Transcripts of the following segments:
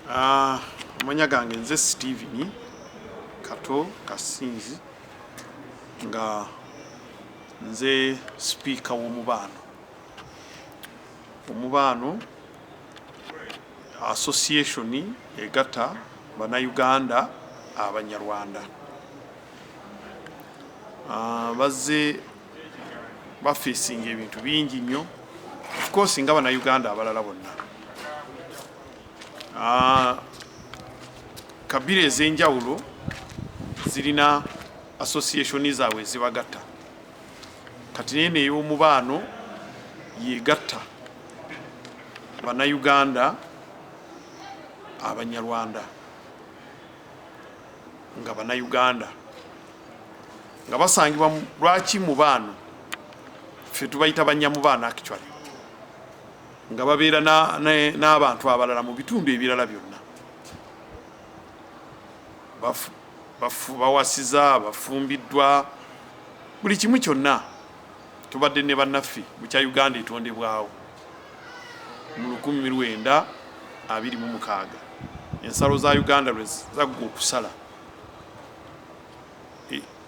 Ah, amanya gange nze Steven Kato Kasinzi nga nze sipiika w'omubaano omubaano association egatta bannayuganda abanyarwanda ah, bazze bafeesinga ebintu bingi nnyo ofcourse nga banauganda abalala bonna ah, kabira ez'enjawulo zirina associationi zaabwe ezibagatta kati naye neyomubaano yegatta banauganda abanyarwanda nga banauganda nga basangibwa lwaki mu baano ffe tubayita banyamubaana actually nga babeera n'abantu abalala mu bitundu ebirala byonna bawasiza bafumbiddwa buli kimu kyonna tubadde ne bannaffe mukya uganda etondebwawo mu lukumi lwenda abiri mu mukaaga ensalo za uganda lwe zaggwa okusala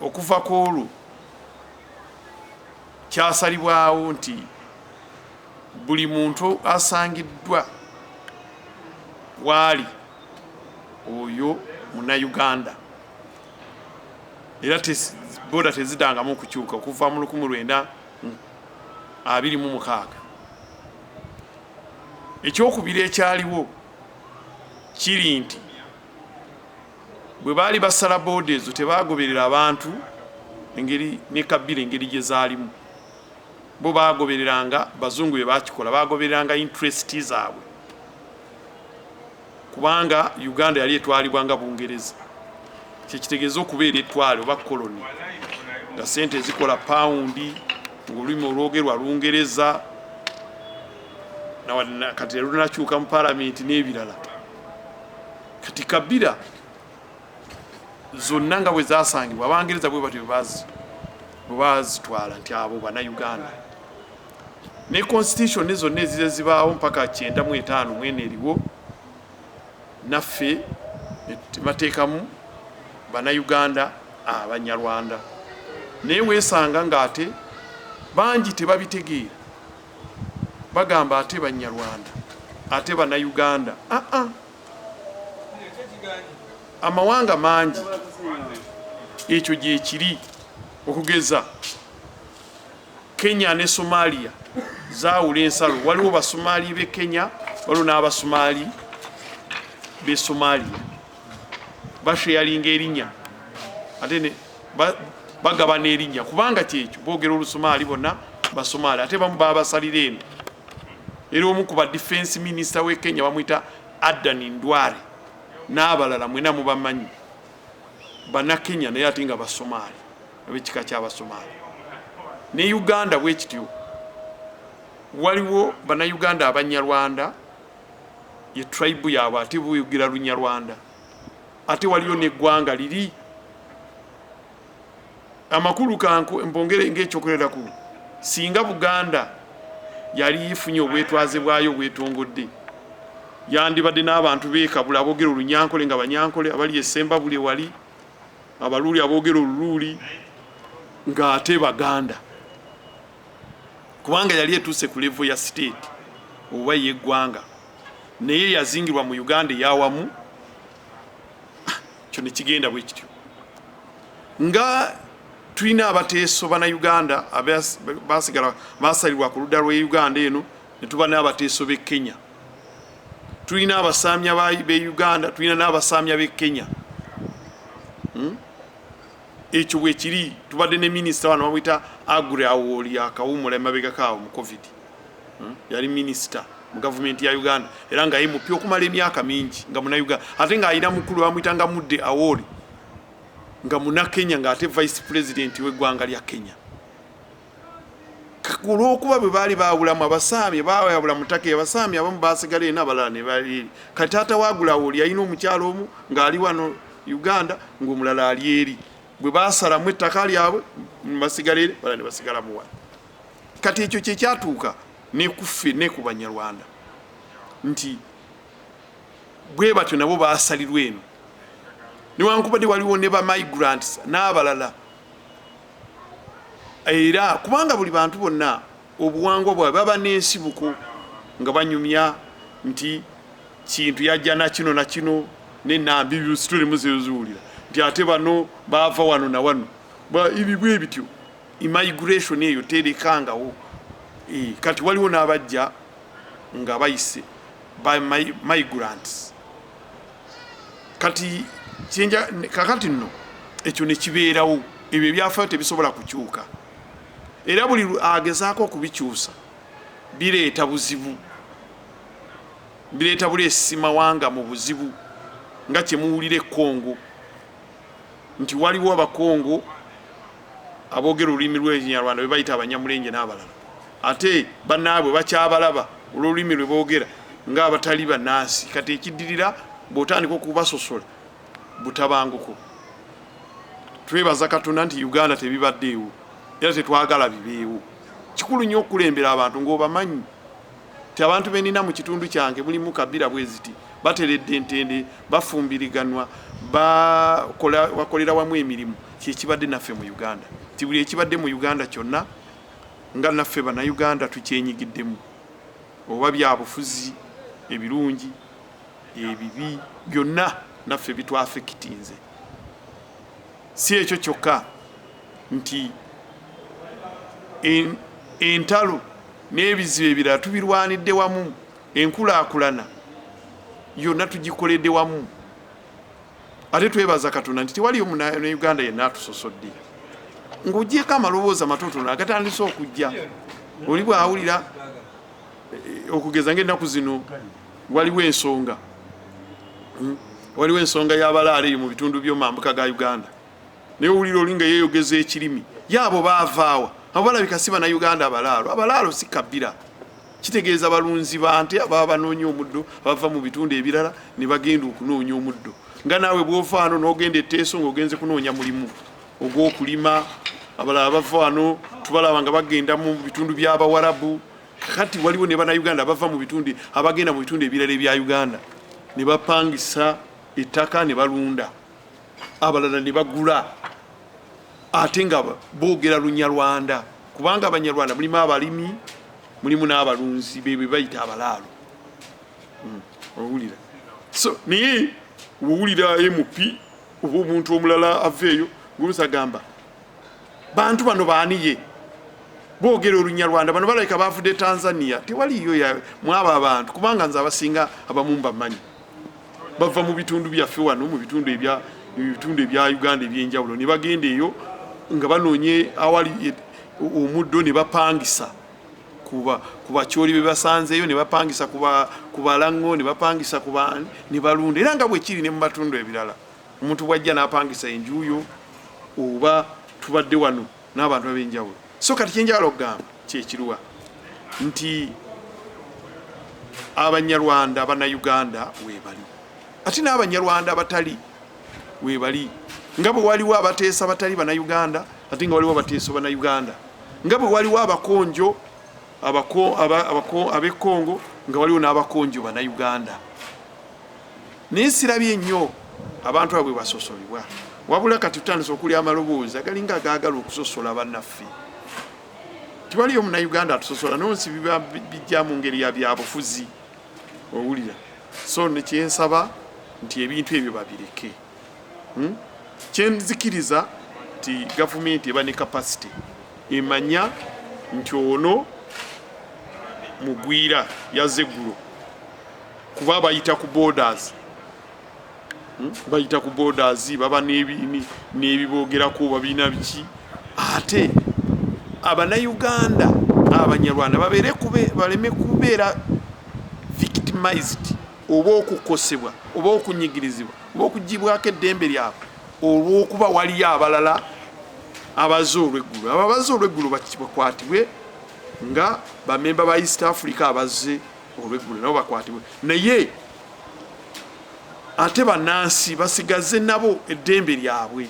Okuva ku olwo kyasalibwawo nti buli muntu asangiddwa waali oyo munayuganda era boda tezidangamu okukyuka okuva mu lukumu lwenda abiri mu mukaaga ekyokubiri ekyaliwo kiri nti bwe baali basala booda ezo tebaagoberera abantu engeri ne kabira engeri gye zaalimu bo baagobereranga bazungu bye bakikola baagobereranga interest zaabwe kubanga uganda yali etwalibwa nga bungereza kyekitegeeza okubeera etwale oba koloni nga sente ezikola pawundi ngaolulimi olwogerwa lungereza kati erunakyuka mu palamenti n'ebirala kati kabira zonna nga bwe zasangibwa abangereza bwe batyo bwebazitwala nti abo banauganda ne constitution zonna ezize zibaawo mpaka kyenda mu etaano mwene eriwo naffe bateekamu banauganda abanyarwanda naye weesanga ng'ate bangi tebabitegeera bagamba ate banyarwanda ate banauganda aa ah, ah. amawanga mangi ekyo gyekiri okugeza kenya ne somalia zawula ensalo waliwo basomaali be kenya waliwo n'abasomaali be somalia basheyalinga erinya ate ne bagabana erinya kubanga kyekyo bogera olusumaali bonna basumaali ate bamu babasalira eno era omu ku ba defense minister we kenya bamwita adan ndware n'abalala mwena mubamanyi banakenya naye ate nga basumaali abekika kyabasumaali ne uganda bwekityo waliwo banauganda abanyarwanda ye tribe yaabwe ate buyugira lunyarwanda ate waliyo neggwanga liri amakulu kanku mbongere ngaekyokuleraku singa buganda yali ifunye obwetwaze bwayo obwetongodde yandibadde n'abantu bekabula abogera olunyankole nga banyankole abali esemba buli wali abaluuli abogera oluluuli ng'ate baganda kubanga yali etuuse ku levo ya state oba yeggwanga naye yazingirwa mu uganda eyawamu ah, kyo nekigenda bwe kityo nga tulina abateeso bana uganda basigala basalirwa ku ludda lwe uganda eno netuba n'abateeso b'e kenya tulina abasaamya b'e uganda tulina n'abasaamya b'e kenya hmm? ekyo bwekiri tubadde ne minisita wano bamwita agre awoli akawumula emabegako awo mu covid hmm? yali minisita mu gavumenti ya uganda era nga yemupi okumala emyaka mingi nga munauganda ate ng'alina mukulu bamwitanga mudde awoli nga munakenya ng'ate vice president w'eggwanga lya kenya olwokuba bwe baali baawulamu abasaami baawayabula mutaka abasaami abamu baasigala ena abalala ne bali kati taata waagulawo oli yalina omukyalo omu ng'ali wano uganda ng'omulala ali eri bwe baasalamu ettaka lyabwe basigala eri bala ne basigala muwa kati ekyo kye kyatuuka ne kuffe ne ku banyarwanda nti bwe batyo nabo baasalirwa eno newankubadde waliwo ne bamigrants n'abalala era kubanga buli bantu bonna obuwangwa bwabwe baba n'ensibuko nga banyumya nti kintu yajja nakino nakino nenambi situlimu zeziwulira nti ate bano baava wano na wano ebibwa ebityo immigration eyo terekangawo eh, kati waliwo n'abajja nga bayise migrants kati kinja kakati nno ekyo ne kibeerawo ebyo ebyafayo tebisobola kukyuka era buli agezaako okubikyusa bireeta buzibu bireeta buleesi mawanga mu buzibu nga kyemuwulira ekongo nti waliwo abakongo Aboogera olulimi lw'ekinyarwanda bebayita abanyamulenje n'abalala ate banaabwe bakyabalaba olw'olulimi lwe boogera ng'abatali bannansi kati ekiddirira bw'otandika okubasosola butabanguko. Twebaza Katonda nti Uganda tebibaddeewo era tetwagala bibeewo. Kikulu nnyo okukulembera abantu ng'obamanyi. ti abantu benina mu kitundu kyange mulimu kabira bweziti bateredde ntende bafumbiriganwa bakolera wamu emirimu kyekibadde naffe mu uganda ti buli ekibadde mu uganda kyonna nga naffe banauganda tukyenyigiddemu oba byabufuzi ebirungi ebibi byonna naffe bitwafikitinze Si ekyo kyokka nti entalo n'ebizibu ebirala tubirwanidde wamu, enkulaakulana yonna tugikoledde wamu. Ate twebaza Katonda nti tewaliyo Munauganda yenna atusosodde. Ng'ogyeko amaloboozi amatotono agatandise okujja, oli bw'awulira eh, okugeza ng'ennaku zino waliwo ensonga hmm? waliwo ensonga yabalaala eyo mu bitundu byomambuka ga uganda naye owulira oli nga yeyogeza ekirimi yaabo baavaawa abo balabika si bana uganda abalaalo abalaalo si kabira kitegeeza balunzi bante ababa banoonya omuddo abava mu bitundu ebirala ne bagenda okunoonya omuddo nga naawe bwovaano n'ogenda eteeso ngaogenze kunoonya mulimu ogw'okulima abalala bavaano tubalaba nga bagenda mu bitundu by'abawarabu Kati waliwo ne bannayuganda abava mu bitundu abagenda mu bitundu ebirala ebya Uganda ne bapangisa ettaka ne balunda, abalala ne bagula ate nga boogera Lunyarwanda kubanga Abanyarwanda mulimu abalimi mulimu n'abalunzi be be bayita abalaalo. Hmm, owulira so naye wowulira MP oba omuntu omulala aveeyo gulusa gamba bantu bano baaniye bogera olunyarwanda bano balabika bavude tanzania tewaliyo mwabo abantu kubanga nze abasinga abamu mbamanyi bava mu bitundu byaffe wano mu bitundu ebya ebitundu ebya uganda ebyenjawulo ne bagenda eyo nga banoonye awali e, omuddo ne bapangisa ku bakyoli be basanzeeyo ne bapangisa ku balaŋŋo ne bapangisa ku baani ne balunda era nga bwekiri ne mu matundu ebirala Omuntu bwajja napangisa enju yo oba tubadde wano n'abantu ab'enjawulo. So kati kyenjagala okugamba kyekiruwa nti abanyarwanda banauganda webali ate n'abanyarwanda abatali webali nga bwe waliwo abateesa batali banauganda ate nga waliwo abateesa banauganda nga bwe waliwo abakonjo abekongo nga waliwo n'abakonjo banauganda Naye sirabye nnyo abantu abo bwe basosolebwa, wabula kati tutandise okulya amaloboozi agalinga agaagala okusosola bannaffe. Tiwaliyo Munnayuganda atusosola, naye nsi biba bijja mu ngeri ya byabufuzi, owulira. So ne kyensaba nti ebintu ebyo babireke. hmm? kyenzikiriza nti gavumenti eba ne kapasite emanya nti ono mugwira yaze eggulo kuba bayita ku borders hmm? bayita ku borders baba n'ebibogerako babina biki ate abanauganda abanyarwanda baleme kubeera victimized oba okukosebwa oba okunyigirizibwa oba okugibwako eddembe lyabwe olwokuba waliyo abalala abaze olweggulu abo abaze olweggulu bakwatibwe nga bamemba ba east africa abaze olweggulu nabo bakwatibwe naye ate banansi basigaze nabo eddembe lyabwe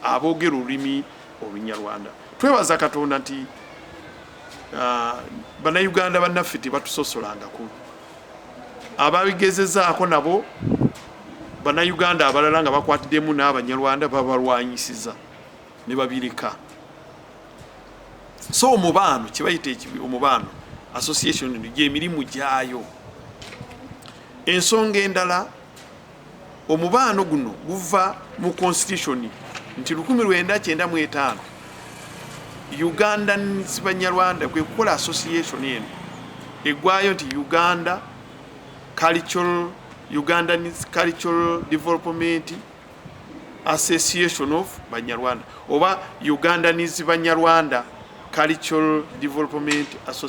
aboogera olulimi olunyarwanda twebaza katonda nti uh, bannayuganda bannaffe tebatusosolangako ababigezezaako nabo bannayuganda abalala nga bakwatiddemu n'abanyarwanda babalwanyisiza ne babireka so omubaano kyebayita omubaano association gyemirimu gyayo ensonga endala Omubaano guno guva mu Konsitityushoni nti lukumi lwenda kyenda mu etaano Ugandans Banyarwanda kwe kukola asosiyesoni eno eggwayo nti Uganda Cultural Ugandans Cultural Development Association of Banyarwanda oba Ugandans Banyarwanda Cultural Development Association.